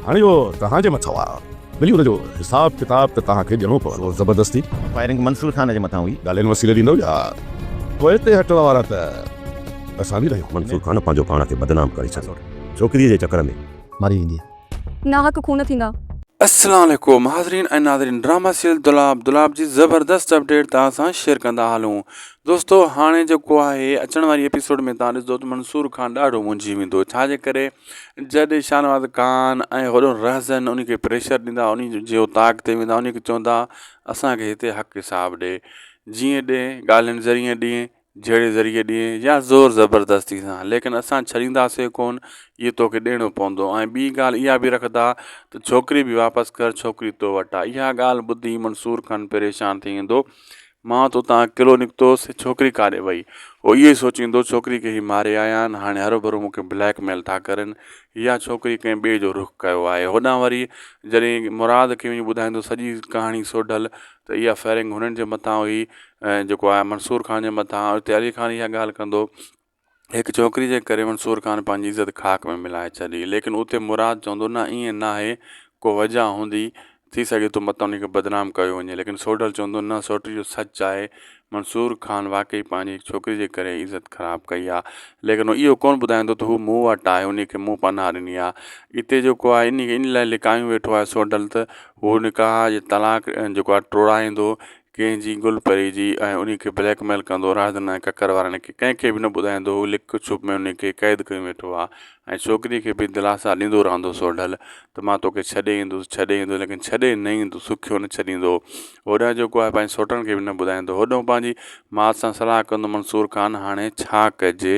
هاڻي اهو توهان جي مٿو آ. ملي ان جو حساب ڪتاب ته توهان کي ڏيڻو پوندو. زبردستي. فائرنگ منصور خان جي مٿان هئي. ڳالهين وسيلي ڏيندو يا پوئتي هٽڻ وارا ته اسان به ناهيون. منصور خان پنهنجو پاڻ کي بدنام ڪري ڇڏيو ڇوڪري جي چڪر ۾. ماري ويندي. ناحق خون ٿيندا. السلام عليڪم حاضرين ۽ ناظرين ڊراما سيريل دولاب دولاب جي زبردست اپڊيٽ توهان سان شيئر ڪندا هلون دوستو هاڻي جيڪو آهي اچڻ واري ايپيسوڊ ۾ توهان ڏسدو ته منصور خان ڏاڍو منجهي ويندو ڇا جي ڪري جڏهن شاهنواز خان ۽ هوڏنهن رهزن انهي کي پريشر ڏيندا، انهي جي اوطاق تي ويندا، انهي کي چوندا، اسان کي هتي حق حساب ڏي، جيئن ڏي، ڳالهين ذريعي ڏي، جهيڙي ذريعي ڏي يا زور زبردستي سان، ليڪن اسان ڇڏينداسين ڪونه، اهو تو کي ڏيڻو پوندو. ۽ ٻي ڳالهه اها به رکدا ته ڇوڪري به واپس ڪر، ڇوڪري تو وٽ آ. اها ڳالهه ٻڌي منصور خان پريشان ٿي ويندو، مان تو تان اڪيلو نڪتوس، هي ڇوڪري ڪاڏي وئي؟ هو اهو ئي سوچيندو، ڇوڪري کي هي ماري آيا آهن، هاڻي هروڀرو مون کي بليڪ ميل ٿا ڪرن. يا ڇوڪري ڪنهن ٻئي جو رخ ڪيو آهي. هوڏانهن وري جڏهن مراد کي وڃي ٻڌائيندو سڄي ڪهاڻي سوڍل ته اها فائرنگ هنن جي مٿان هئي، جيڪو آهي منصور خان جي مٿان، اتي علي خان اها ڳالهه ڪندو. هڪ ڇوڪري جي ڪري منصور خان پنهنجي عزت خاڪ ۾ ملائي ڇڏي. ليڪن اتي مراد چوندو نه ائين ناهي ڪو وجهه هوندي ٿي سگهي ٿو متان انهي کي بدنام ڪيو وڃي ليڪن سوڍل چوندو نه سوٽي اهو سچ آهي منصور خان واقعي پنهنجي هڪ ڇوڪري جي ڪري عزت خراب ڪئي آ ليڪن هو اهو ڪونه ٻڌائيندو ته هو مون وٽ آهي انهي کي مون پناهه ڏني آ اتي جيڪو آهي انهي کي انهي لاء لڪايون ويٺو آهي سوڍل ته هو نڪاح جي طلاق جيڪو آهي ٽوڙائيندو ڪنهن جي گل پري جي ۽ انهي کي بليڪ ميل ڪندو راهدن ۽ ڪڪر وارن کي ڪنهن کي به نه ٻڌائيندو هو لڪ ڇپ ۾ انهي کي قيد ڪيو ويٺو آ ۽ ڇوڪري کي به دلاسا ڏيندو رهندو هو سوڍل ته مان توکي ڇڏي ايندس ڇڏي ايندس ليڪن ڇڏي نه ايندس سکيو نه ڇڏيندو هو هوڏانهن جيڪو آهي پنهنجي سوٽن کي به نه ٻڌائيندو هوڏانهن پنهنجي مات سان صلاح ڪندو منصور خان هاڻي ڇا ڪجي؟